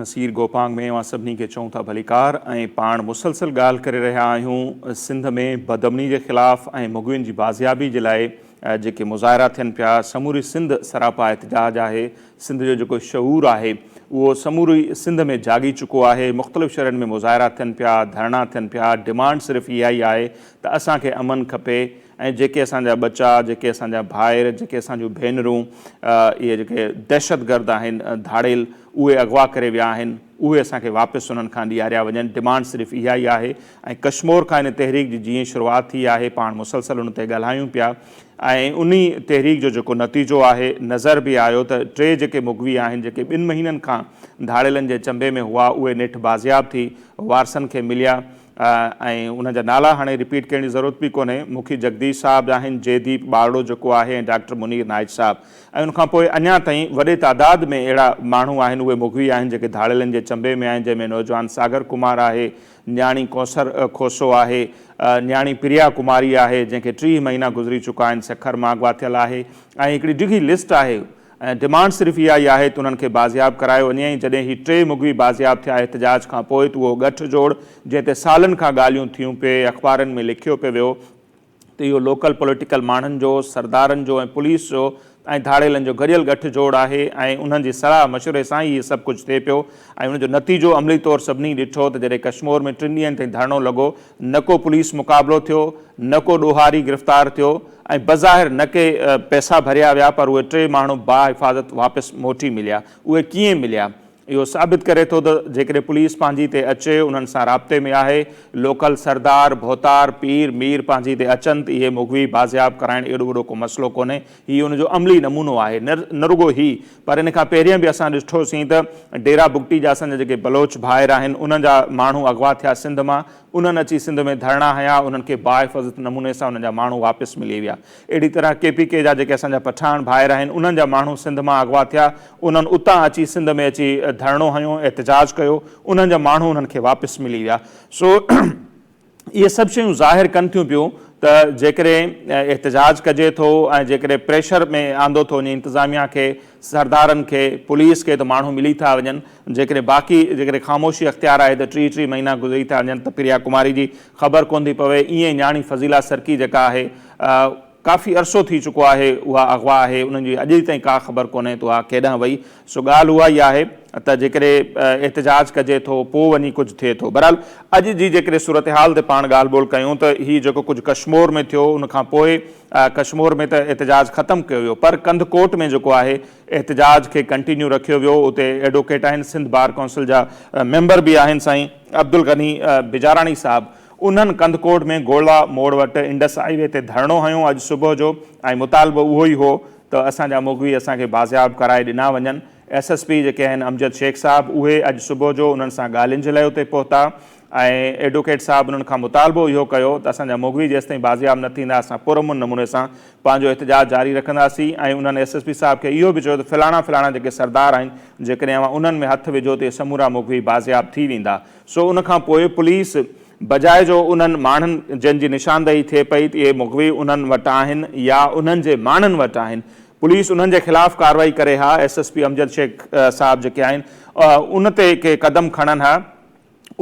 نصير گوپانگ ۾ اوهان سڀني کي چئون ٿا ڀليڪار ۽ پاڻ مسلسل ڳالهه ڪري رهيا آهيون سنڌ ۾ بدامني جي خلاف ۽ مغوين جي بازيابي جي لاء جيڪي مظاهرا ٿين پيا سموري سنڌ سراپا احتجاج آهي سنڌ جو جيڪو شعور آهي اهو سموري سنڌ ۾ جاڳي چڪو آهي مختلف شھرن ۾ مظاهرا ٿين پيا ڌرڻا ٿين پيا ڊمانڊ صرف اها ئي آهي ته اسان کي امن کپي ۽ جيڪي اسان جا ٻچا، جيڪي اسان جا ڀائر، جيڪي اسان جون ڀينرون، اهي جيڪي دهشتگرد آهن، ڌاڙيل، اهي اغوا ڪري ويا آهن، اهي اسان کي واپس انهن کان ڏياريا وڃن، ڊمانڊ صرف اها ئي آهي ۽ ڪشمور کان ان تحريڪ جي جيئن شروعات ٿي آهي، پاڻ مسلسل ان تي ڳالهايون پيا ۽ انهي تحريڪ جو جيڪو نتيجو آهي، نظر به آيو ته ٽي جيڪي مغوي آهن، جيڪي ٻن مهينن کان ڌاڙيلن جي چنبي ۾ هئا، اهي نيٺ بازياب ٿي وارثن کي مليا، ۽ انهن جا نالا هاڻي رپيٽ ڪرڻ جي ضرورت به ڪونهي، مکي جڳديش صاحب آهن، جئي ديپ ٻارڙو جيڪو آهي ۽ ڊاڪٽر منير نائچ صاحب ۽ ان کان پوء اڃا تائين وڏي تعداد ۾ اهڙا ماڻهو آهن اهي مغوي آهن جيڪي ڌاڙيلن جي چنبي ۾ آهن جنهن ۾ نوجوان ساگر ڪمار آهي، نياڻي ڪوثر کوسو آهي، نياڻي پريا ڪماري آهي جنهن کي ٽيهه مهينا گذري چڪا آهن سکر ماڳ واتيل آهي ۽ هڪڙي ڊگهي لسٽ آهي. ۽ ڊمانڊ صرف اها ئي آهي ته انهن کي بازياب ڪرايو وڃي ۽ جڏهن هي ٽي مغوي بازياب ٿيا احتجاج کان پوء ته اهو ڳٺ جوڙ جنهن تي سالن کان ڳالهيون ٿيون پي اخبارن ۾ لکيو پي ويو ته اهو لوڪل پوليٽيڪل ماڻهن جو، سردارن جو ۽ پوليس جو ۽ ڌاڙيلن جو گڏيل ڳٺ جوڙ آهي ۽ انهن جي صلاح مشوري سان ئي اهي سڀ ڪجهه ٿئي پيو ۽ ان جو نتيجو عملي طور سڀني ڏٺو ته جڏهن ڪشمور ۾ ٽن ڏينهن تائين ڌرڻو لڳو نه ڪو پوليس مقابلو ٿيو، نه ڪو ڏوهاري گرفتار ٿيو ۽ بظاهر نه ڪي پئسا ڀريا ويا پر اهي ٽي ماڻهو باحفاظت واپس موٽي مليا. اهي ڪيئن مليا؟ اهو ثابت ڪري ٿو ته جيڪڏهن پوليس پنهنجي تي اچي انهن سان رابطي ۾ آهي، لوڪل سردار، ڀوتار، پير، مير پنهنجي تي اچن ته اهي مغوي بازياب ڪرائڻ ايڏو وڏو ڪو مسئلو ڪونهي. هي ان جو عملي نمونو آهي. نه رڳو هي پر ان کان پهرين به اسان ڏٺو سين ته ڊيرا بگٽي جا اسان جا جيڪي بلوچ ڀائر آهن انهن جا ماڻهو اغوا ٿيا سنڌ مان انهن اچي سنڌ ۾ ڌرڻا هنيا انهن کي باحفاظت نموني سان انهن جا ماڻهو واپس ملي ويا اهڙي طرح ڪي پي ڪي جا جيڪي اسان جا پٺاڻ ڀائر آهن انهن جا ماڻهو سنڌ مان اغوا ٿيا انهن اتان اچي سنڌ ۾ اچي ڌرڻو هنيو احتجاج ڪيو انهن جا ماڻهو انهن کي واپس ملي ويا سو اهي سڀ شيون ظاهر ڪن ٿيون پيون ته جيڪڏهن احتجاج ڪجي ٿو ۽ جيڪڏهن پريشر ۾ آندو ٿو وڃي انتظاميا کي، سردارن کي، پوليس کي ته ماڻهو ملي ٿا وڃن، جيڪڏهن باقي جيڪڏهن خاموشي اختيار آهي ته ٽي ٽي مهينا گذري ٿا وڃن ته پريا ڪماري جي خبر ڪونه ٿي پوي، ايئن نياڻي فضيلا سرڪي جيڪا آهي، ڪافي عرصو ٿي چڪو آهي اها اغوا آهي انهن جي اڄ تائين ڪا خبر ڪونهي ته اها ڪيڏانهن وئي سو ڳالهه اها ئي آهي ته جيڪڏهن احتجاج ڪجي ٿو پوء وڃي ڪجهه ٿئي ٿو بهرحال اڄ جي جيڪڏهن صورتحال تي پاڻ ڳالهه ٻولهه ڪيون ته هي جيڪو ڪجهه ڪشمور ۾ ٿيو ان کان پوء ڪشمور ۾ ته احتجاج ختم ڪيو ويو پر ڪنڌ ڪوٽ ۾ جيڪو آهي احتجاج کي ڪنٽينيو رکيو ويو اتي ايڊوڪيٽ آهن سنڌ بار ڪونسل جا ميمبر به آهن سائين عبدالغني بجاراڻي صاحب انهن ڪنڌڪوٽ ۾ گولا موڙ وٽ انڊس هاء وي تي ڌرڻو هنيو اڄ صبح جو ۽ مطالبو اهو ئي هو ته اسان جا مغوي اسان کي بازياب ڪرائي ڏنا وڃن. ايس ايس پي جيڪي آهن امجد شيخ صاحب اهي اڄ صبح جو انهن سان ڳالهين جي لئه اتي پهتا ۽ ايڊوڪيٽ صاحب انهن کان مطالبو اهو ڪيو ته اسان جا مغوي جيستائين بازياب نه ٿيندا اسان پرامن نموني سان پنهنجو احتجاج جاري رکنداسين ۽ انهن ايس ايس پي صاحب کي اهو به چيو ته فلاڻا فلاڻا جيڪي سردار آهن جيڪڏهن اوهان انهن ۾ هٿ وجهو ته اهي سمورا مغوي بازياب ٿي ويندا. سو ان کان پوء پوليس بجاء جو انهن ماڻهن جن جي نشاندهي ٿئي پئي ته اهي مغوي انهن وٽ آهن يا انهن جي ماڻهن وٽ آهن پوليس انهن جي خلاف ڪارروائي ڪري ها S S P Amjad Shaikh صاحب جيڪي آهن ان تي ڪي قدم کڻن ها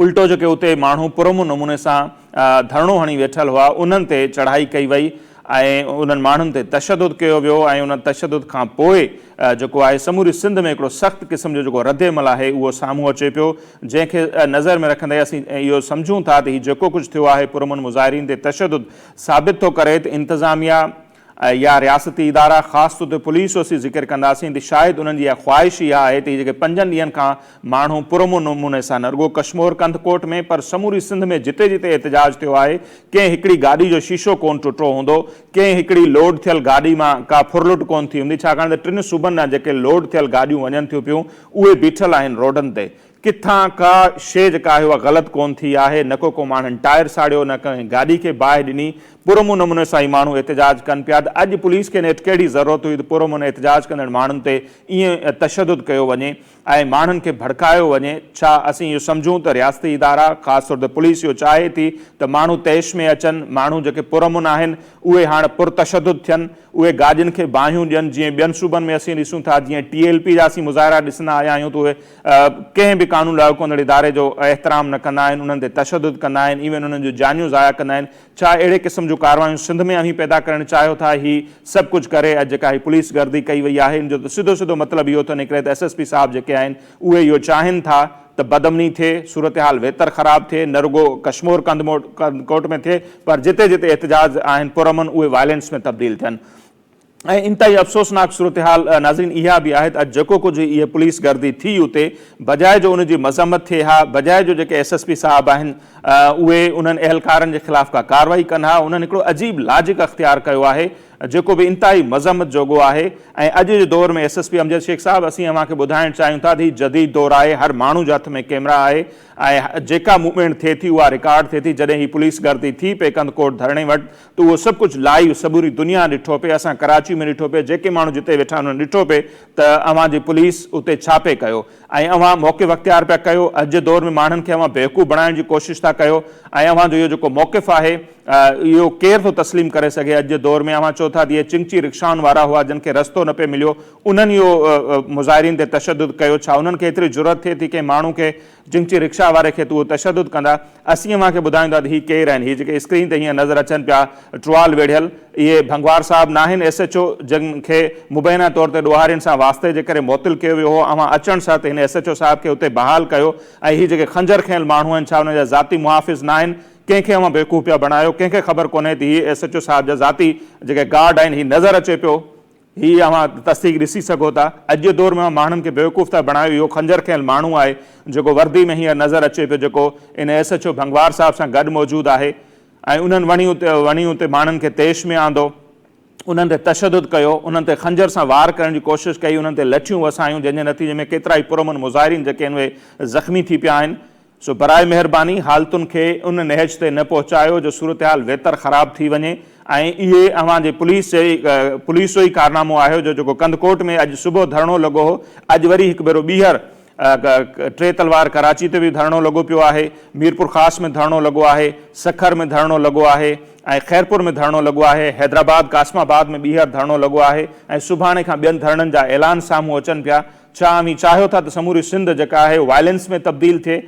الٽو جيڪي اتي ماڻهو پرامن نموني سان ڌرڻو هڻي ويٺل هئا انهن تي چڙهائي ڪئي وئي ۽ انهن ماڻهن تي تشدد ڪيو ويو ۽ ان تشدد کان پوء جيڪو آهي سموري سنڌ ۾ هڪڙو سخت قسم جو جيڪو رد عمل آهي اهو سامهون اچي پيو جنهن کي نظر ۾ رکندي اسين اهو سمجهون ٿا ته هي جيڪو ڪجهه ٿيو آهي پرامن مظاهرين تي تشدد ثابت ٿو ڪري ته انتظاميا يا رياستي ادارا خاص طور تي پوليس جو اسين ذڪر ڪنداسين ته شايد انهن جي اها خواهش ئي اها آهي ته هي جيڪي پنجن ڏينهن کان ماڻهو پرامن نموني سان نه رڳو ڪشمور ڪنڌ ڪوٽ ۾ پر سموري سنڌ ۾ جتي جتي احتجاج ٿيو آهي ڪنهن هڪڙي گاڏي جو شيشو ڪون ٽٽو هوندو، ڪنهن هڪڙي لوڊ ٿيل گاڏي مان ڪا ڦرلٽ ڪون ٿي هوندي ڇاڪاڻ ته ٽن صوبن ڏانهن جيڪي لوڊ ٿيل گاڏيون وڃن ٿيون پيون اهي بيٺل آهن روڊن تي ڪٿان ڪا شيء جيڪا آهي اها غلط ڪون ٿي آهي نه ڪو ڪو ماڻهن ٽائر ساڙيو نه ڪنهن گاڏي کي باهه ڏني پرامن نموني سان هي ماڻهو احتجاج ڪن پيا ته اڄ پوليس کي نيٺ ڪهڙي ضرورت هئي ته پرامن احتجاج ڪندڙ ماڻهن تي ائين تشدد ڪيو وڃي ۽ ماڻهن کي ڀڙڪايو وڃي، ڇا اسين اهو سمجهون ته رياستي ادارا، خاص طور تي پوليس اهو چاهي ٿي ته ماڻهو طيش ۾ اچن، ماڻهو جيڪي پرامن آهن، اهي هاڻ پرتشدد ٿين، اهي گاڏين کي باهيون ڏين، جيئن ٻين صوبن ۾ اسين ڏسون ٿا، جيئن ٽي ايل پي جا اسين مظاهرا ڏسندا آيا آهيون ته اهي ڪنهن به قانون لاڳو ڪندڙ اداري جو احترام نه ڪندا آهن، انهن تي تشدد ڪندا آهن، ايون انهن جون جانيون ضايع ڪندا آهن، ڇا اهڙي قسم جون ڪاروايون سنڌ ۾ اوهين پيدا ڪرڻ چاهيو ٿا؟ هي سڀ ڪجهه ڪري اڄ جيڪا هي پوليس گردي ڪئي وئي آهي ان جو ته سڌو سڌو مطلب اهو ٿو نڪري ته ايس ايس پي صاحب جيڪي آهن اهي اهو چاهين ٿا ته بدامني ٿئي، صورتحال ويتر خراب ٿئي نه رڳو ڪشمور ڪنڌڪوٽ ۾ ٿئي پر جتي جتي احتجاج آهن پرامن اهي وائلينس ۾ تبديل ٿين. ۽ انتهائي افسوسناڪ صورتحال ناظرين اها به آهي ته اڄ جيڪو ڪجهه هي پوليس گردي ٿي اتي بجاء جو ان جي مذمت ٿئي ها بجاء جو جيڪي ايس ايس پي صاحب آهن اهي انهن اهلڪارن جي خلاف ڪا ڪارروائي ڪن ها انهن هڪڙو عجيب لاجڪ اختيار ڪيو آهي جيڪو به انتهائي مذمت جوڳو آهي ۽ اڄ جي دور ۾ S S P Amjad Shaikh صاحب اسين اوهان کي ٻڌائڻ چاهيون ٿا ته هي جديد دور آهي هر ماڻهو جي هٿ ۾ ڪيمرا آهي ۽ جيڪا موومينٽ ٿئي ٿي اها رڪارڊ ٿئي ٿي جڏهن هي پوليس گردي ٿي پئي ڪنڌڪوٽ ڌرڻي وٽ ته اهو سڀ ڪجهه لائيو سموري دنيا ڏٺو پئي اسان ڪراچي ۾ ڏٺو پئي جيڪي ماڻهو جتي ويٺا آهن انهن ڏٺو پئي ته اوهان جي پوليس اتي ڇا پئي ڪيو ۽ اوهان موقف اختيار پيا ڪيو اڄ جي دور ۾ ماڻهن کي اوهان بيوقوف بڻائڻ جي ڪوشش ٿا ڪيو ۽ اوهان جو اهو جيڪو موقف آهي اهو ڪير ٿو تسليم ڪري سگهي اڄ جي دور ۾ اوهان چئو ٿا ته اهي چنگچي رڪشائن وارا هئا جن کي رستو نه پئي مليو انهن اهو مظاهرين تي تشدد ڪيو ڇا انهن کي ايتري جرئت ٿئي ٿي ڪنهن ماڻهو کي جنگچي رڪشا واري کي تون تشدد ڪندا اسين اوهان کي ٻڌائيندا ته هي ڪير آهن هي جيڪي اسڪرين تي هينئر نظر اچن پيا ٽرال ويڙهيل اهي ڀنگوار صاحب ناهن ايس ايڇ او جن کي مبينا طور تي ڏوهارين سان واسطي جي ڪري معطل ڪيو ويو هو اوهان اچڻ ساٿ هن ايس ايڇ او صاحب کي اتي بحال ڪيو ۽ هي جيڪي خنجر کنيل ماڻهو آهن ڇا انهن جا ذاتي محافظ ناهن ڪنهن کي اوهان بيوقوف پيا بڻايو ڪنهن کي خبر ڪونهي ته هي ايس ايڇ او صاحب جا ذاتي جيڪي گارڊ آهن هي نظر اچي پيو هي اوهان تصديق ڏسي سگهو ٿا. اڄ جي دور ۾ ماڻهن کي بيوقوف ٿا بڻايو اهو خنجر کنيل ماڻهو آهي جيڪو وردي ۾ هينئر نظر اچي پيو جيڪو ان ايس ايڇ او ڀنگوار صاحب سان گڏ موجود آهي ۽ انهن وڻي وڻي اتي ماڻهن کي طيش ۾ آندو انهن تي تشدد ڪيو انهن تي خنجر سان وار ڪرڻ جي ڪوشش ڪئي انهن تي لٺيون وسايون جنهن جي نتيجي ۾ ڪيترائي پرامن مظاهرين جيڪي آهن اهي زخمي ٿي پيا آهن سو براء مهرباني حالتن کي ان نهج تي نه پهچايو جو صورتحال ويتر خراب ٿي وڃي ۽ اهي اوهان جي پوليس جي پوليس جو ئي ڪارنامو آهي جو جيڪو ڪنڌڪوٽ ۾ اڄ صبح ڌرڻو لڳو هو اڄ وري هڪ ڀيرو ٻيهر ٽي تلوار ڪراچي تي به ڌرڻو لڳو پيو آهي ميرپورخاص ۾ ڌرڻو لڳو آهي سکر ۾ ڌرڻو لڳو آهي ۽ خيرپور ۾ ڌرڻو لڳو آهي حيدرآباد قاسم آباد ۾ ٻيهر ڌرڻو لڳو آهي ۽ سڀاڻي کان ٻين ڌرڻن جا اعلان سامهون اچن پيا ڇا اوهين چاهيو ٿا ته سموري سنڌ جيڪا آهي وائلنس ۾ تبديل ٿئي؟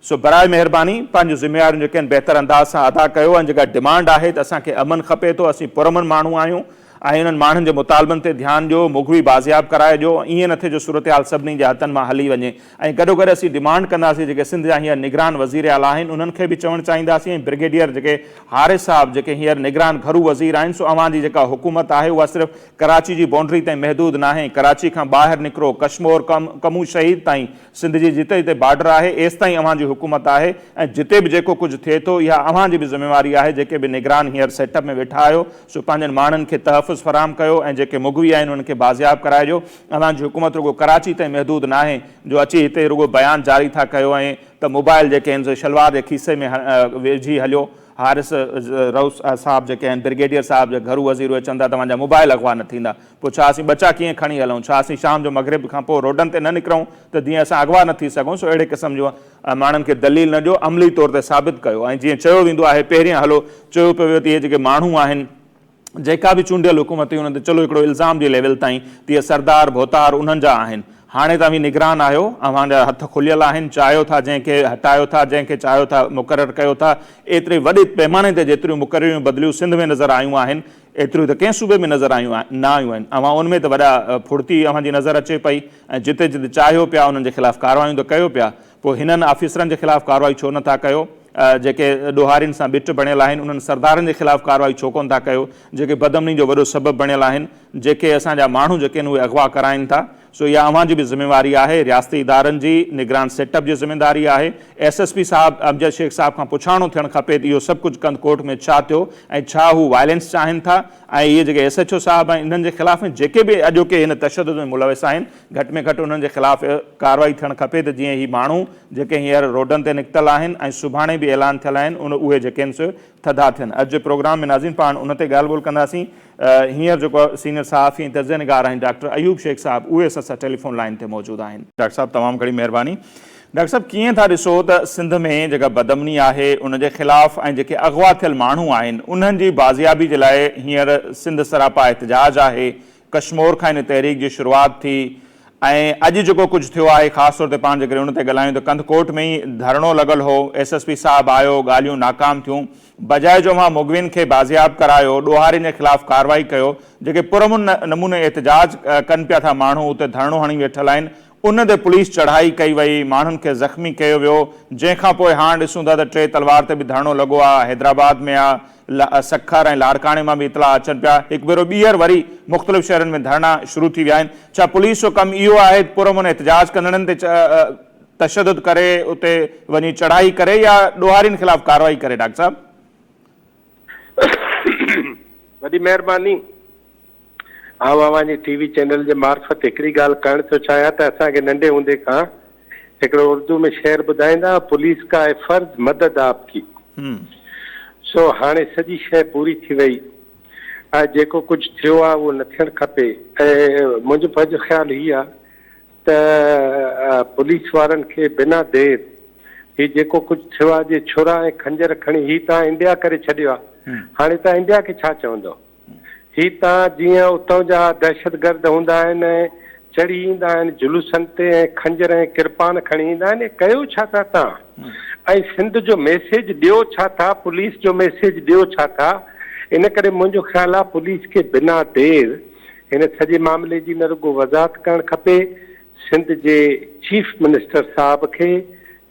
سو براء مهرباني پنهنجون ذميواريون جيڪي آهن بهتر انداز سان ادا ڪيو ۽ جيڪا ڊمانڊ آهي ته اسان کي امن کپي ٿو اسين پرامن ماڻهو آهيون ۽ انهن ماڻهن جي مطالبن تي ڌيان ڏيو مغوي بازياب ڪرائي ڏيو ائين نه ٿئي جو صورتحال سڀني جي هٿن مان هلي وڃي ۽ گڏوگڏ اسين ڊمانڊ ڪنداسين جيڪي سنڌ جا هينئر نگران وزير اعليٰ آهن انهن کي به چوڻ چاهينداسين ۽ برگيڊيئر جيڪي حارث صاحب جيڪي هينئر نگران گهرو وزير آهن سو اوهان جي جيڪا حڪومت آهي اها صرف ڪراچي جي بائونڊري تائين محدود ناهي، ڪراچي کان ٻاهر نڪرو، ڪشمور کان ڪمون شهيد تائين، سنڌ جي جتي جتي بارڊر آهي، ايستائين اوهان جي حڪومت آهي ۽ جتي به جيڪو ڪجهه ٿئي ٿو، اها اوهان جي به ذميواري آهي، جيڪي به نگران هينئر سيٽ اپ ۾ ويٺا آهيو، سو پنهنجن ماڻهن کي تحفظ فراهم ڪيو ۽ جيڪي مغوي آهن، انهن کي بازياب ڪرائجو، اوهان جي حڪومت رڳو ڪراچي تائين محدود ناهي، جو اچي هتي رڳو بيان جاري ٿا ڪيو ۽ ته موبائل جيڪي آهن سي شلوار جي کيسي ۾ وجهي هليو. حارث رئوس صاحب جيڪي آهن برگيڊيئر صاحب جا گهرو وزير اهي چون ٿا توهان جا موبائل اغوا نه ٿيندا پوء ڇا اسين ٻچا ڪيئن کڻي هلون ڇا اسين شام جو مغرب کان پوء روڊن تي نه نڪرون ته جيئن اسان اغوا نه ٿي سگهون سو اهڙي قسم جون ماڻهن کي دليل نه ڏيو عملي طور تي ثابت ڪيو ۽ جيئن چيو ويندو آهي پهريان هلو چيو پيو ويو ته اهي جيڪي ماڻهو آهن جيڪا به چونڊيل حڪومت هئي ان تي چلو هڪڙو الزام جي ليول تائين ته اهي سردار ڀوتار انهن جا آهن هاڻي ته اوهين نگران آهيو اوهان جا هٿ کليل آهن چاهيو ٿا جنهن کي هٽايو ٿا جنهن کي چاهيو ٿا مقرر ڪيو ٿا ايتري وڏي پيماني تي جيتريون مقرريون بدليون سنڌ ۾ نظر آيون آهن ايتريون ته ڪنهن صوبي ۾ نظر آيون نه آيون آهن اوهان ان ۾ ته وڏا ڦڙتي اوهان جي نظر اچي پئي ۽ جتي جتي چاهيو پيا انهن جي خلاف ڪاروايون ته ڪيو پيا پوء هنن آفيسرن جي خلاف ڪارروائي ڇو نه ٿا ڪيو؟ جيڪي ڏوهارين سان ٻٽ بڻيل آهن، انهن سردارن جي خلاف ڪارروائي ڇو ڪونه ٿا ڪيو؟ جيڪي بدامني جو وڏو سبب بڻيل آهن، جيڪي اسان جا ماڻهو جيڪي آهن اهي اغوا ڪرائين ٿا. سو اها اوهان جي به ذميواري آهي، رياستي ادارن جي، نگران سيٽ اپ جي ذميداري آهي. ايس ايس پي صاحب امجد شيخ صاحب کان پڇاڻو ٿيڻ کپي ته اهو سڀ ڪجهه ڪنڌ ڪوٽ ۾ ڇا ٿيو ۽ ڇا هو وائلينس چاهين ٿا ۽ اهي جيڪي ايس ايڇ او صاحب آهن انهن جي خلاف ۽ جيڪي به اڄوڪي هن تشدد ۾ ملوث آهن گهٽ ۾ گهٽ انهن جي خلاف ڪارروائي ٿيڻ کپي ته جيئن هي ماڻهو جيڪي هينئر روڊن تي نڪتل آهن ۽ سڀاڻي به اعلان ٿيل آهن ان اهي جيڪين سي ٿڌا ٿين. اڄ جي پروگرام ۾ ناظرين پاڻ ان تي ڳالهه ٻولهه ڪنداسين. هينئر جيڪو سينئر صحافي ۽ تجزيه نگار آهن ڊاڪٽر ايوب شيخ صاحب اهي اسان سان ٽيليفون لائين تي موجود آهن. ڊاڪٽر صاحب تمام گهڻي مهرباني. ڊاڪٽر صاحب ڪيئن ٿا ڏسو ته سنڌ ۾ جيڪا بدامني آهي ان جي خلاف ۽ جيڪي اغوا ٿيل ماڻهو آهن انهن جي بازيابي جي لاء هينئر سنڌ سراپا احتجاج آهي ڪشمور کان ان تحريڪ جي شروعات ٿي ۽ اڄ جيڪو ڪجهه ٿيو آهي خاص طور تي پاڻ جيڪڏهن ان تي ڳالهايون ته ڪنڌڪوٽ ۾ ئي ڌرڻو لڳل هو، ايس ايس پي صاحب آيو، ڳالهيون ناڪام ٿيون، بجاء جو اوهان مغوين کي بازياب ڪرايو، ڏوهارين جي خلاف ڪارروائي ڪيو، جيڪي پرامن نموني احتجاج ڪن پيا ٿا ماڻهو اتي ڌرڻو هڻي ويٺل آهن، ان تي پوليس چڙهائي ڪئي وئي، ماڻهن کي زخمي ڪيو ويو، جنهن کان پوء هاڻ ڏسون ٿا ته ٽي تلوار تي به ڌرڻو لڳو آ، حيدرآباد ۾ آ، سکر ۽ لاڙڪاڻي مان به اطلاع اچن پيا، هڪ ڀيرو ٻيهر وري مختلف شهرن ۾ ڌرڻا شروع ٿي ويا آهن، ڇا پوليس جو ڪم اهو آهي ته پرامن احتجاج ڪندڙن تي تشدد ڪري اتي وڃي چڙهائي ڪري يا ڏوهارين خلاف ڪارروائي ڪري ڊاڪٽر صاحب؟ وڏي مهرباني. آئون اوهان جي ٽي وي چينل جي معرفت هڪڙي ڳالهه ڪرڻ ٿو چاهيان ته اسان کي ننڍي هوندي کان هڪڙو اردو ۾ شعر ٻڌائيندا ها پوليس ڪا هي فرض مدد آپ ڪي سو هاڻي سڄي شيء پوري ٿي وئي ۽ جيڪو ڪجهه ٿيو آهي اهو نه ٿيڻ کپي. منهنجو پنهنجو خيال هي آهي ته پوليس وارن کي بنا دير هي جيڪو ڪجهه ٿيو آهي جي ڇرا ۽ خنجر کڻي هي تان انڊيا ڪري ڇڏيو آهي هاڻي تان انڊيا کي ڇا چوندو. هي ته جيئن اتان جا دهشتگرد هوندا آهن ۽ چڙهي ايندا آهن جلوسن تي ۽ خنجر ۽ ڪرپان کڻي ايندا آهن اي ڪيو ڇا ٿا تان ۽ سنڌ جو ميسيج ڏيو ڇا ٿا پوليس جو ميسيج ڏيو ڇا ٿا ان ڪري منهنجو خيال آهي پوليس کي بنا دير هن سڄي معاملي جي نه رڳو وضاحت ڪرڻ کپي سنڌ جي چيف منسٽر صاحب کي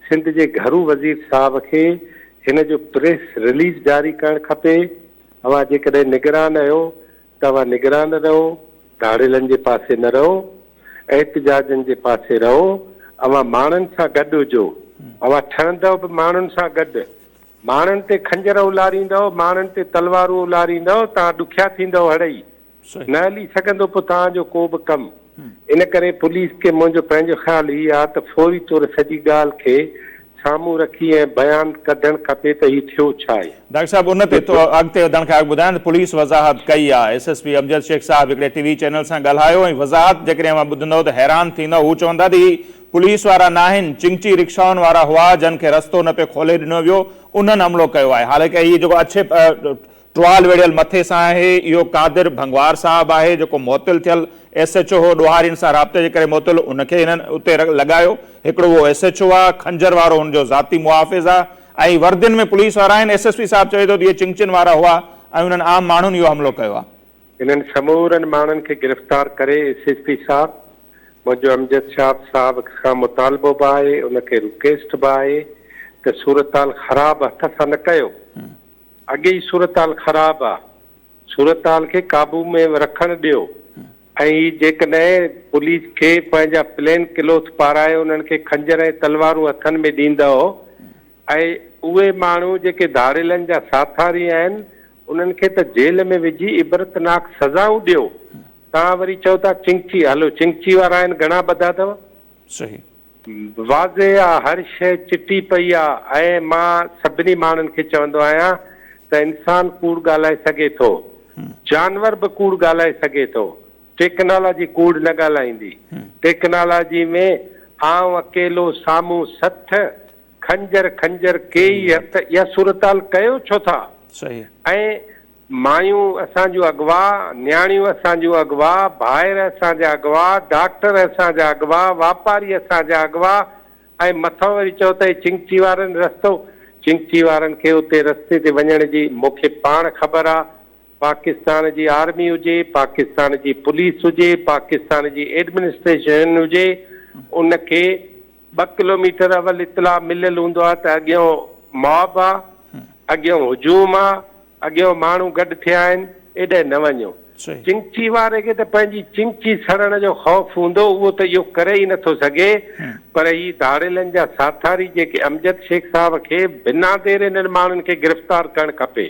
سنڌ جي گهرو وزير صاحب کي هن جو پريس رليز جاري ڪرڻ کپي اوهان جيڪڏهن نگران رهيو ته اوهان نگران رهو، ڌاڙيلن جي پاسي نه رهو، احتجاجن جي پاسي رهو، اوهان ماڻهن سان گڏ هجو، اوهان ٺهندؤ به ماڻهن سان گڏ، ماڻهن تي خنجر اولاريندؤ، ماڻهن تي تلوارون اولاريندؤ، توهان ڏکيا ٿيندؤ هڙئي، نه هلي سگهندو پوء توهان جو ڪو به ڪم. ان ڪري پوليس کي منهنجو پنهنجو خيال هي آ ته فوري طور سڄي ڳالهه کي سامهون رکي ۽ بيان ڪڍڻ کپي ته هي ٿيو ڇا آهي. ڊاڪٽر صاحب ان تي اڳتي وڌڻ کان اڳ ٻڌايان ته پوليس وضاحت ڪئي آ. S S P Amjad Shaikh صاحب هڪڙي ٽي وي چينل سان ڳالهايو ۽ وضاحت جيڪڏهن اوهان ٻڌندؤ ته حيران ٿيندؤ هو چون ٿا ته هي پوليس وارا ناهن چنگچي رڪشائن وارا هئا جن کي رستو نه پئي کولي ڏنو ويو انهن حملو ڪيو آهي حالانڪه هي جيڪو اڇي ٽوال ويڙهيل مٿي سان آهي، اهو قادر ڀنگوار صاحب آهي، جيڪو معطل ٿيل ايس ايڇ او هو، ڏوهارين سان رابطي جي ڪري معطل، ان کي هنن اتي لڳايو، هڪڙو اهو ايس ايڇ او آ، خنجر وارو هن جو ذاتي محافظ آ، ۽ وردين ۾ پوليس وارا آهن، ايس ايس پي صاحب چوي ٿو ته اهي چنگچين وارا هئا، ۽ انهن عام ماڻهن اهو حملو ڪيو آ. انهن سمورن ماڻهن کي گرفتار ڪري، ايس ايس پي صاحب، منهنجو امجد شاهه صاحب کان مطالبو به آهي، ان کي رڪيسٽ به آهي ته صورتحال خراب هٿ سان نه ڪيو، اڳي ئي صورتحال خراب آ صورتحال کي قابو ۾ رکڻ ڏيو ۽ هي جيڪڏهن پوليس کي پنهنجا پلين ڪلوٿ پارائي انهن کي خنجر ۽ تلوارون هٿن ۾ ڏيندؤ ۽ اهي ماڻهو جيڪي ڌاڙيلن جا ساٿاري آهن انهن کي ته جيل ۾ وجهي عبرتناڪ سزائون ڏيو تان وري چئو ٿا چنگچي هلو چنگچي وارا آهن گهڻا ٻڌا اٿو. صحيح. واضح آ هر شيء چٽي پئي آ ۽ مان سڀني ماڻهن کي چوندو آهيان ته انسان ڪوڙ ڳالهائي سگهي ٿو جانور به ڪوڙ ڳالهائي سگهي ٿو ٽيڪنالاجي ڪوڙ نه ڳالهائيندي ٽيڪنالاجي ۾ آئون اڪيلو سامهون سٿ خنجر خنجر ڪيئي هٿ اها صورتحال ڪيو ڇو ٿا ۽ مايون اسان جون اغوا، نياڻيون اسان جون اغوا، ڀائر اسان جا اغوا، ڊاڪٽر اسان جا اغوا، واپاري اسان جا اغوا ۽ مٿان وري چئو ته اي چنگچي وارن رستو چنگچي وارن کي اتي رستي تي وڃڻ جي مون کي پاڻ خبر آ پاڪستان جي آرمي هجي پاڪستان جي پوليس هجي پاڪستان جي ايڊمنسٽريشن هجي ان کي ٻه ڪلوميٽر اول اطلاع مليل هوندو آهي ته اڳيئون ماب آ، اڳيئون هجوم آ، اڳيئون ماڻهو گڏ ٿيا آهن، ايڏهن نه وڃو. چنگچي واري کي ته پنهنجي چنگچي سڙڻ جو خوف هوندو، اهو ته اهو ڪري ئي نٿو سگهي، پر هي ڌاڙيلن جا ساٿاري جيڪي امجد شيخ صاحب کي بنا دير انهن ماڻهن کي گرفتار ڪرڻ کپي.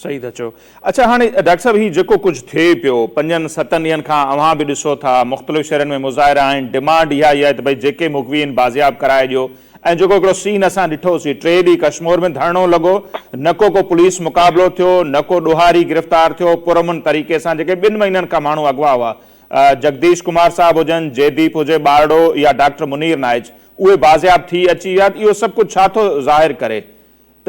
صحيح ٿا چئو. اڇا هاڻي ڊاڪٽر صاحب هي جيڪو ڪجهه ٿئي پيو پنجن ستن ڏينهن کان اوهان به ڏسو ٿا مختلف شهرن ۾ مظاهرا آهن ڊمانڊ اها ئي آهي ته ڀئي جيڪي مغوي آهن بازياب ڪرائي ڏيو ۽ جيڪو هڪڙو سين اسان ڏٺو سي ٽي ڏينهن ڪشمور ۾ ڌرڻو لڳو نه ڪو ڪو پوليس مقابلو ٿيو نه ڪو ڏوهاري گرفتار ٿيو پرامن طريقي سان جيڪي ٻن مهينن کان ماڻهو اغوا هئا جگديش ڪمار صاحب هجن جيديپ هجي ٻارڙو يا ڊاڪٽر منير نائچ اهي بازياب ٿي اچي ويا اهو سڀ ڪجهه ڇا ٿو ظاهر ڪري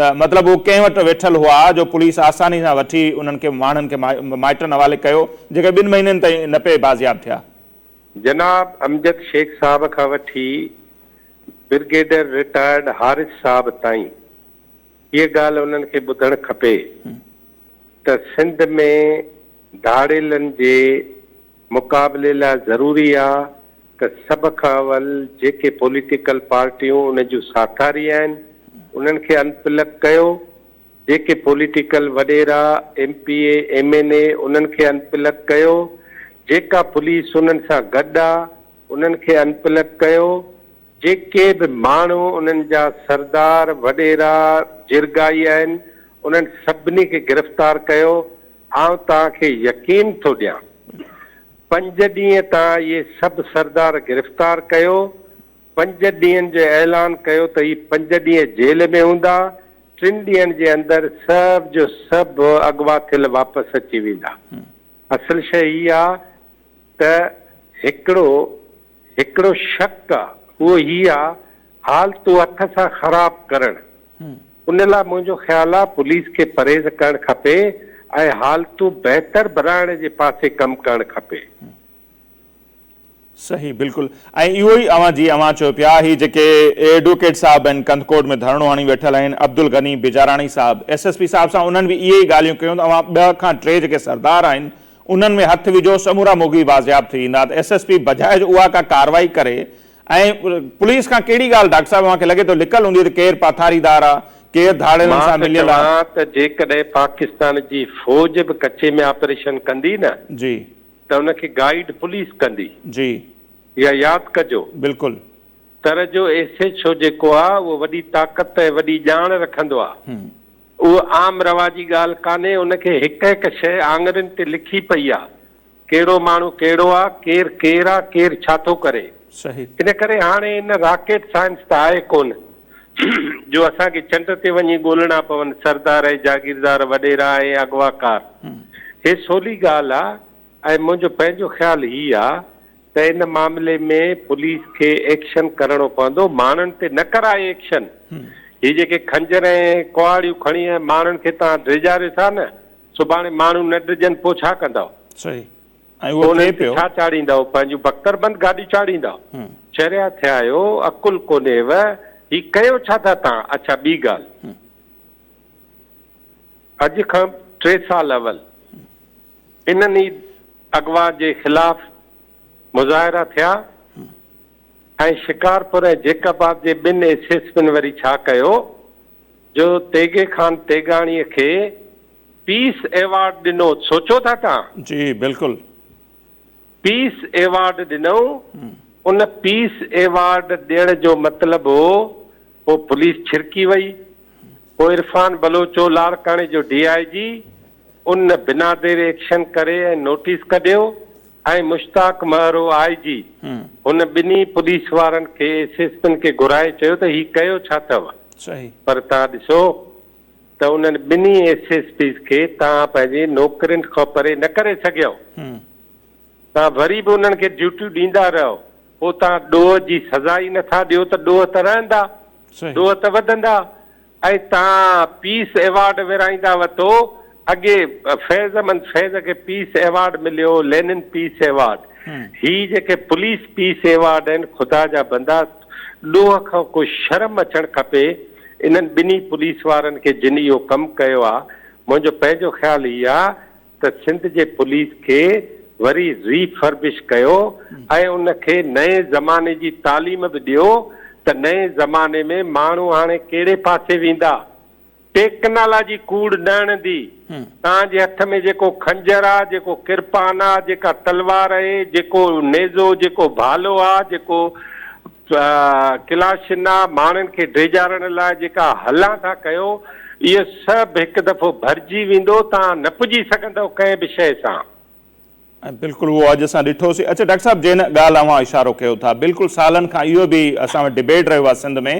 ته مطلب هو ڪنهن وٽ ويٺل هئا جو پوليس آساني سان وٺي انهن کي ماڻهن کي مائٽن حوالي ڪيو جيڪي ٻن مهينن تائين نه پئي بازياب ٿيا. جناب امجد شيخ صاحب کان وٺي برگيڊر رٽائرڊ حارث صاحب تائين هيء ڳالهه انهن کي ٻڌڻ کپي ته سنڌ ۾ ڌاڙيلن جي مقابلي لاء ضروري آ ته سڀ کان اول جيڪي پوليٽيڪل پارٽيون ان جون ساٿاري آهن انهن کي ان پلگ ڪيو، جيڪي پوليٽيڪل وڏيرا، M P A, M N A انهن کي ان پلگ ڪيو، جيڪا پوليس انهن سان گڏ آ انهن کي ان پلگ ڪيو، جيڪي به ماڻهو انهن جا سردار، وڏيرا، جرڳائي آهن انهن سڀني کي گرفتار ڪيو، آئون توهان کي يقين ٿو ڏيان. پنج ڏينهن تان اهي سڀ سردار گرفتار ڪيو، پنج ڏينهن جو اعلان ڪيو ته هي پنج ڏينهن جيل ۾ هوندا، ٽن ڏينهن جي اندر سڀ جو سڀ اغوا ٿيل واپس اچي ويندا. اصل شيء هي آ ته هڪڙو. هڪڙو شڪ آ اهو هي آ حالتون هٿ سان خراب ڪرڻ ان لا منهنجو خيال آ پوليس کي پرهيز ڪرڻ کپي ۽ حالتون بهتر بنائڻ جي پاسي ڪم ڪرڻ کپي. صحيح بلڪل ۽ اهو ئي اوهان جي اوهان چيو پيا هي جيڪي ايڊوڪيٽ صاحب آهن ڪنڌڪوٽ ۾ ڌرڻو هڻي ويٺل آهن عبدالغني بجاراڻي صاحب ايس ايس پي صاحب سان انهن به اهي ئي ڳالهيون ڪيون ته اوهان ٻه کان ٽي جيڪي سردار آهن انهن ۾ هٿ وجهو سمورا موگي بازياب ٿي ويندا ته ايس ايس پي بجاء جو اها ڪا ڪارروائي ڪري ۽ پوليس کان ڪهڙي ڳالهه ڊاڪٽر صاحب اوهان کي لڳي ٿو لڪل هوندي ته ڪير پاٿاريدار آ ڪير ڌاڙيلن سان مليل آ. مان ته چوان ته جيڪڏهن پاڪستان جي فوج به ڪچي ۾ آپريشن ڪندي نه جي. ته ان کي گائيڊ پوليس ڪندي. جي. اها ياد ڪجو. بلڪل. تر جو ايس ايڇ او جيڪو آ اهو وڏي طاقت ۽ وڏي ڄاڻ رکندو آ. اهو عام رواجي ڳالهه ڪانهي، ان کي هڪ هڪ شيء آڱرين تي لکي پئي آ، ڪهڙو ماڻهو ڪهڙو آ، ڪير ڪير آ، ڪير ڇا ٿو ڪري. صحيح. ان ڪري هاڻي ان راڪيٽ سائنس ته آهي ڪونه جو اسان کي چنڊ تي وڃي ڳولڻا پون، سردار ۽ جاگيردار، وڏيرا ۽ اغواڪار. هي سولي ڳالهه آ ۽ منهنجو پنهنجو خيال هي آ ته ان معاملي ۾ پوليس کي ايڪشن ڪرڻو پوندو ماڻهن تي نه ڪرائي ايڪشن هي جيڪي خنجر ۽ ڪهاڙيون کڻي ۽ ماڻهن کي توهان ڊيڄاريو ٿا نه سڀاڻي ماڻهو نه ڊڄن پو ڇا ڪندؤ صحيح ۽ اهو ٿئي پيو ڇا چاڙهيندؤ پنهنجون بڪتر بند گاڏيون چاڙهيندؤ چريا ٿيا آهيو عقل ڪونهيو هي ڪيو ڇا ٿا توهان اڇا ٻي ڳالهه اڄ کان ٽي سال اول انهن ئي اغوا جي خلاف مظاهرا ٿيا ۽ شڪارپور ۽ جيڪب آباد جي ٻن ايس ايس پين وري ڇا ڪيو جو تيغي خان تيغاڻي کي پيس ايوارڊ ڏنو سوچو ٿا توهان؟ جي بلڪل. پيس ايوارڊ ڏنائون، ان پيس ايوارڊ ڏيڻ جو مطلب هو پوء پوليس ڇرڪي وئي، پوء عرفان بلوچو لاڙڪاڻي جو ڊي آء جي ان بنا دير ايڪشن ڪري ۽ نوٽيس ڪڍيو ۽ مشتاق مهرو آء جي هن ٻنهي پوليس وارن کي ايس ايس پين کي گهرائي چيو ته هي ڪيو ڇا ٿئو پر تان ڏسو ته انهن ٻنهي ايس ايس پيز کي توهان پنهنجي نوڪرين کان پري نه ڪري سگهيو. توهان وري به انهن کي ڊيوٽيون ڏيندا رهيو. پوء توهان ڏوهه جي سزا ئي نٿا ڏيو ته ڏوهه ته رهندا، ڏوهه ته وڌندا ۽ توهان پيس ايوارڊ ورهائيندا وتو اڳي فيض احمد فيض کي پيس ايوارڊ مليو، لينن پيس ايوارڊ. هي جيڪي پوليس پيس ايوارڊ آهن خدا جا بندا ڏوهه کان ڪو شرم اچڻ کپي انهن ٻنهي پوليس وارن کي جن اهو ڪم ڪيو آ منهنجو پنهنجو خيال هي آ ته سنڌ جي پوليس کي وري ري فربش ڪيو ۽ ان کي نئين زماني جي تعليم به ڏيو ته نئين زماني ۾ ماڻهو هاڻي ڪهڙي پاسي ويندا. ٽيڪنالاجي ڪوڙ نه اڻندي. توهان جي هٿ ۾ جيڪو خنجر آ، جيڪو ڪرپان آ، جيڪا تلوار اهي، جيڪو نيزو، جيڪو ڀالو آ، جيڪو ڪلاشن آ، ماڻهن کي ڊيڄارڻ لاء جيڪا هلان ٿا ڪيو، اهو سڀ هڪ دفعو ڀرجي ويندو، توهان نه پڄي سگهندؤ ڪنهن به شيء سان. ۽ بلڪل اهو اڄ اسان ڏٺوسي. اڇا ڊاڪٽر صاحب جنهن ڳالهه اوهان اشارو ڪيو ٿا بلڪل سالن کان اهو به اسان وٽ ڊبيٽ رهيو آهي سنڌ ۾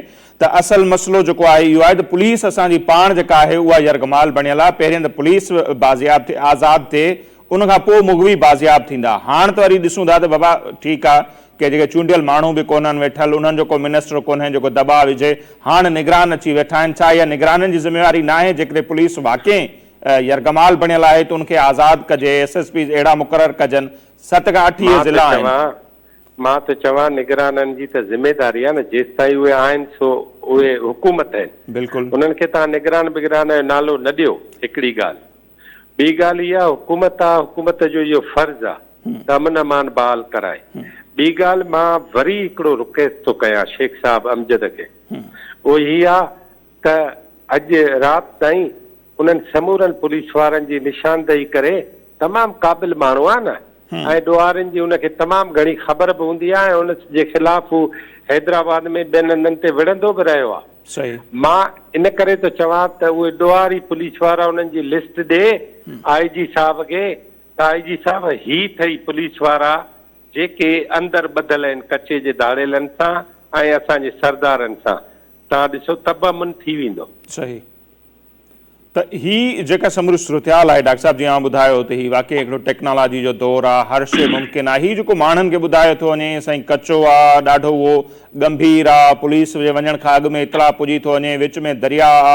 ته اصل مسئلو جيڪو آهي اهو آهي ته پوليس اسان جي پاڻ جيڪا آهي اها يرغمال بڻيل آهي پهرين ته پوليس بازياب ٿئي آزاد ٿئي ان کان پوء مغوي بازياب ٿيندا هاڻ ته وري ڏسون ٿا ته بابا ٺيڪ آهي ڪي جيڪي چونڊيل ماڻهو به ڪونهن ويٺل انهن جو ڪو منسٽر ڪونهي جيڪو دٻاء وجهي هاڻ نگران اچي ويٺا آهن ڇا اها نگرانن جي ذميواري ناهي جيڪڏهن پوليس واقعي يرغمال بڻيل آهي ته ان کي آزاد ڪجي ايس ايس پيز اهڙا مقرر ڪجن ست کان اٺ اهي ضلعا آهن. مان ته چوان نگرانن جي ته ذميداري آهي نه جيستائين اهي آهن سو اهي حڪومت آهن انهن کي توهان نگران بگران جو نالو نه ڏيو هڪڙي ڳالهه ٻي ڳالهه اها حڪومت آهي حڪومت جو اهو فرض آهي ته امن امان بحال ڪرائي ٻي ڳالهه مان وري هڪڙو رڪيست ٿو ڪيان شيخ صاحب امجد کي اهو هي آهي ته اڄ رات تائين انهن سمورن پوليس وارن جي نشاندهي ڪري تمام قابل ماڻهو آهي نه ۽ ڏوهارين جي ان کي تمام گهڻي خبر به هوندي آهي ۽ ان جي خلاف هو حيدرآباد ۾ ٻين هنڌن تي وڙهندو به رهيو آهي. مان ان ڪري ٿو چوان ته اهي ڏوهاري پوليس وارا انهن جي لسٽ ڏي آء جي صاحب کي ته آء جي صاحب هي ٿئي پوليس وارا جيڪي اندر ٻڌل آهن ڪچي جي ڌاڙيلن سان ۽ اسان جي سردارن سان تان ڏسو تب امن ٿي ويندو. صحيح ته هي جيڪا سموري صورتحال آهي ڊاڪٽر صاحب جي اوهان ٻڌايو ته هي واقعي هڪڙو ٽيڪنالاجي جو دور آ هر شي ممڪن آ هي جيڪو ماڻهن کي ٻڌايو ٿو وڃي سائين ڪچو آ ڏاڍو اهو ڳنڀير آ پوليس جي وڃڻ کان اڳ ۾ اطلاع پڄي ٿو وڃي وچ ۾ درياء آ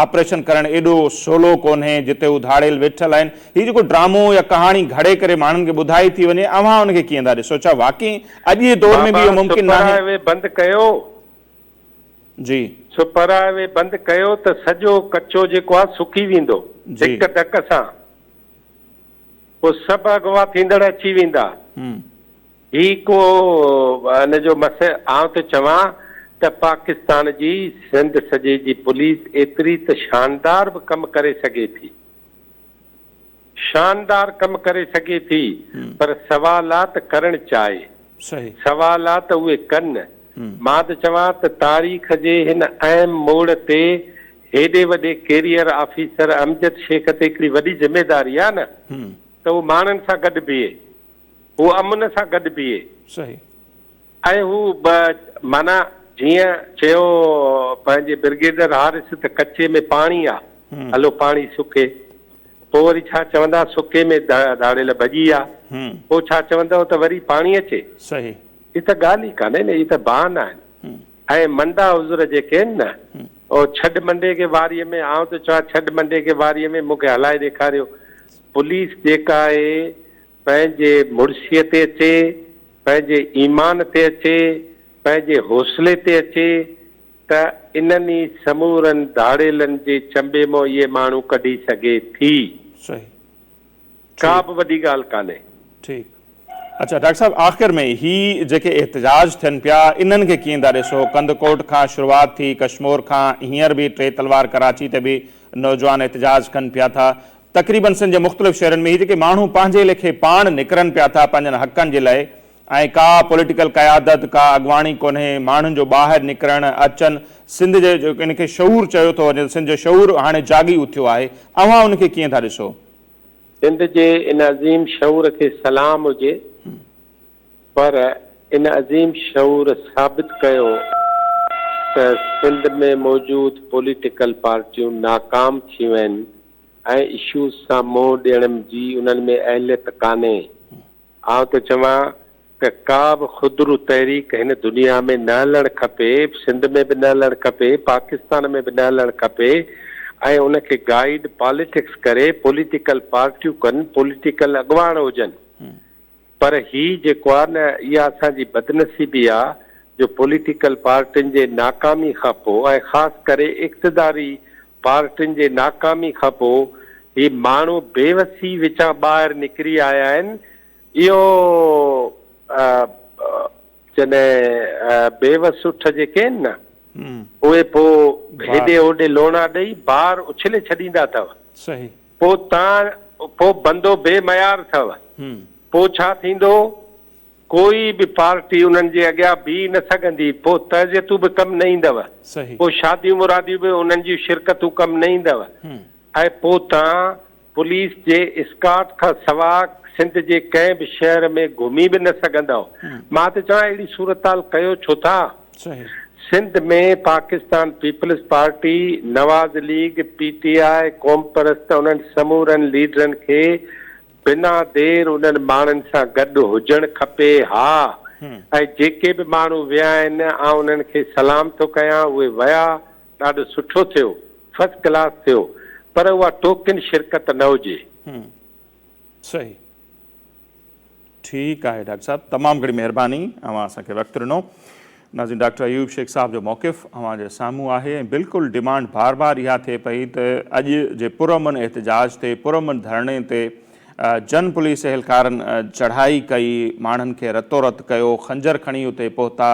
آپريشن ڪرڻ ايڏو سولو ڪونهي جتي هو ڌاڙيل ويٺل آهن هي جيڪو ڊرامو يا ڪهاڻي گهڙي ڪري ماڻهن کي ٻڌائي ٿي وڃي اوهان ان کي ڪيئن ٿا ڏسو ڇا واقعي اڄ جي دور ۾ به اهو ممڪن ناهي. جي. سو پر اهي بند ڪيو ته سڄو ڪچو جيڪو آهي سڪي ويندو هڪ ڌڪ سان پوء سڀ اغوا ٿيندڙ اچي ويندا هي ڪو ان جو مس آئون ٿو چوان ته پاڪستان جي سنڌ سڄي جي پوليس ايتري ته شاندار به ڪم ڪري سگهي ٿي شاندار ڪم ڪري سگهي ٿي پر سوالات ڪرڻ چاهي سوالات اهي ڪن مان ته چوان ته تاريخ جي هن اهم موڙ تي هيڏي وڏي ڪيريئر آفيسر امجد شيخ تي هڪڙي وڏي ذميداري آهي نه ته هو ماڻهن سان گڏ بيهي هو امن سان گڏ بيهي ۽ هو به معنيٰ جيئن چيو پنهنجي برگيڊر حارث ته ڪچي ۾ پاڻي آ، هلو پاڻي سڪي. پوء وري ڇا چوندا سڪي ۾ ڌاڙيل ڀڄي آ، پوء ڇا چوندؤ ته وري پاڻي اچي. صحيح. هي ته ڳالهه ئي ڪانهي نه، هي ته بهانا آهن. ۽ منڊا عذر جيڪي آهن نه، او ڇڏ منڊي کي واريء ۾، آئون ٿو چوان ڇڏ منڊي کي واريء ۾، مون کي هلائي ڏيکاريو. پوليس جيڪا آهي. پنهنجي مڙسيء تي اچي، پنهنجي ايمان تي اچي، پنهنجي حوصلي تي اچي ته انهن ئي سمورن ڌاڙيلن جي چنبي مون اهي ماڻهو ڪڍي سگهي ٿي. صحيح. ٺيڪ. ڪابه وڏي ڳالهه ڪانهي. ٺيڪ. اڇا ڊاڪٽر صاحب آخر ۾ هي جيڪي احتجاج ٿين پيا انهن کي ڪيئن ٿا ڏسو؟ ڪنڌڪوٽ کان شروعات ٿي ڪشمور کان هينئر به ٽي تلوار ڪراچي تي به نوجوان احتجاج ڪن پيا ٿا تقريبن سنڌ جي مختلف شهرن ۾ هي جيڪي ماڻهو پنهنجي ليکي پاڻ نڪرن پيا ٿا پنهنجن حقن جي لئه ۽ ڪا پوليٽيڪل قيادت ڪا اڳواڻي ڪونهي ماڻهن جو ٻاهر نڪرڻ اچن سنڌ جي ان کي شعور چيو ٿو وڃي سنڌ جو شعور هاڻي جاڳي اٿيو آهي اوهان ان کي ڪيئن ٿا ڏسو؟ سنڌ جي ان عظيم شعور کي سلام هجي پر ان عظيم شعور ثابت ڪيو ته سنڌ ۾ موجود پوليٽيڪل پارٽيون ناڪام ٿيون آهن. ۽ اشوز سان منهن ڏيڻ جي انهن ۾ اهليت ڪانهي. آئون ٿو چوان ته ڪا به خودرو تحريڪ هن دنيا ۾ نه هلڻ کپي، سنڌ ۾ به نه هلڻ کپي، پاڪستان ۾ به نه هلڻ کپي ۽ ان کي گائيڊ پاليٽڪس ڪري، پوليٽيڪل پارٽيون ڪن، پوليٽيڪل اڳواڻ هجن. پر هي جيڪو آ نه اها اسان جي بدنصيبي آ جو پوليٽيڪل پارٽين جي ناڪامي کان پو ۽ خاص ڪري اقتداري پارٽين جي ناڪامي کان پو هي ماڻهو بي وسي وچان ٻاهر نڪري آيا آهن اهو جڏهن بي وس اٺ جيڪي آهن نه اهي پو هيڏي هوڏي لوڻا ڏئي بار اڇلي ڇڏيندا اٿو. صحيح. پوء تان پوء بندو بي معيار اٿئو. پوء ڇا ٿيندو؟ ڪوئي به پارٽي انهن جي اڳيان بيهي نه سگهندي. پوء تعزيتون به ڪم نه ايندؤ. پوء شاديون مراديون به انهن جون شرڪتون ڪم نه ايندؤ. ۽ پوء تان پوليس جي اسڪارٽ کان سواء سنڌ جي ڪنهن به شهر ۾ گهمي به نه سگهندؤ. مان ته چوان اهڙي صورتحال ڪيو ڇو ٿا؟ صحيح. Sindh ۾ Pakistan Peoples Party, Nawaz League, P T I, قومپرست انهن سمورن ليڊرن کي بنا دير انهن ماڻهن سان گڏ هجڻ کپي ها ۽ جيڪي به ماڻهو ويا آهن آئون انهن کي سلام ٿو ڪيان اهي ويا ڏاڍو سٺو ٿيو فرسٽ ڪلاس ٿيو پر اها ٽوڪن شرڪت نه هجي. صحيح. ٺيڪ آهي ڊاڪٽر صاحب تمام گهڻي مهرباني اوهان اسان کي وقت ڏنو. ناظرين ڊاڪٽر ايوب شيخ صاحب جو موقف اوهان جي سامهون آهي ۽ بلڪل ڊيمانڊ بار بار اها ٿئي پئي ته اڄ جي پرامن احتجاج تي پرامن ڌرڻي تي جن پوليس اهلڪارن چڙهائي ڪئي ماڻهن کي رتو رت ڪيو خنجر کڻي اتي پهتا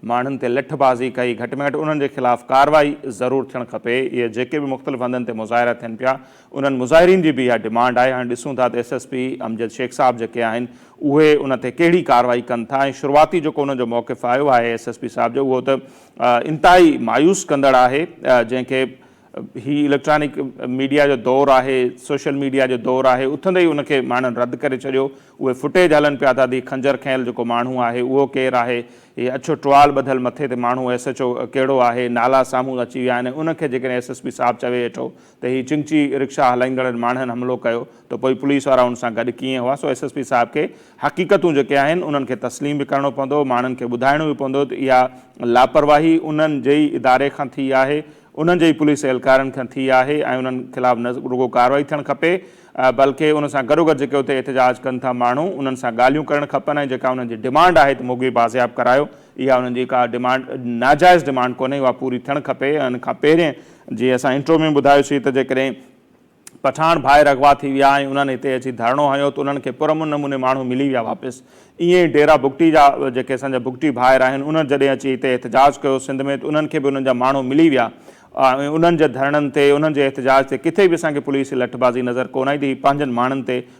ماڻهن تي لٺ بازي ڪئي گهٽ ۾ گهٽ انهن جي خلاف ڪارروائي ضرور ٿيڻ کپي اهي جيڪي به مختلف هنڌن تي مظاهرا ٿين پيا انهن مظاهرين جي به اها ڊمانڊ آهي هاڻي ڏسون ٿا ته S S P Amjad Shaikh صاحب جيڪي آهن اهي ان تي ڪهڙي ڪارروائي ڪن ٿا ۽ شروعاتي جيڪو انهن جو موقف آيو آهي ايس ايس پي صاحب جو اهو ته انتهائي مايوس ڪندڙ آهي جنهن کي هي اليڪٽرانڪ ميڊيا جو دور آهي، سوشل ميڊيا جو دور آهي، اٿندي ئي ان کي ماڻهن رد ڪري ڇڏيو، اهي فوٽيج هلن پيا ٿا ته هي خنجر کنيل جيڪو ماڻهو آهي اهو ڪير آهي، هي اڇو ٽوال ٻڌل مٿي تي ماڻهو ايس ايڇ او ڪهڙو آهي، نالا سامهون اچي ويا آهن، ان کي جيڪڏهن ايس ايس پي صاحب چوي هيٺو ته هي چنگچي رڪشا هلائيندڙن ماڻهن حملو ڪيو ته پوء پوليس وارا ان سان گڏ ڪيئن هئا، سو ايس ايس پي صاحب کي حقيقتون جيڪي آهن انهن کي تسليم به ڪرڻو پوندو، ماڻهن کي ٻڌائڻو به پوندو ته اها لاپرواهي انهن جي ئي اداري کان ٿي آهي، انهن جي ئي پوليس اهلڪارن کان ٿي آهي ۽ انهن خلاف نه رڳو ڪارروائي ٿيڻ کپي بلڪ ان سان گڏوگڏ جيڪي اتي احتجاج ڪن ٿا ماڻهو انهن سان ڳالهيون ڪرڻ کپن ۽ جيڪا انهن جي ڊمانڊ آهي ته موگي بازياب ڪرايو اها انهن جي ڪا ڊمانڊ ناجائز ڊمانڊ ڪونهي اها پوري ٿيڻ کپي ان کان پهرين جي اسان انٽرو ۾ ٻڌايوسين ته جيڪڏهن پٺاڻ ڀائر اغوا ٿي ويا ۽ انهن هتي اچي ڌرڻو هنيو ته انهن کي پرامن نموني ماڻهو ملي ويا واپس ائين ئي ڊيرا بگٽي جا جيڪي اسان جا بگٽي ڀائر آهن انهن جڏهن اچي هتي احتجاج ڪيو سنڌ ۾ ته انهن کي به انهن جا ماڻهو ملي ويا ۽ انهن جي ڌرڻن تي انهن جي احتجاج تي ڪٿي به اسان کي پوليس جي لٺبازي نظر ڪونه ايندي هي پنهنجن ماڻهن تي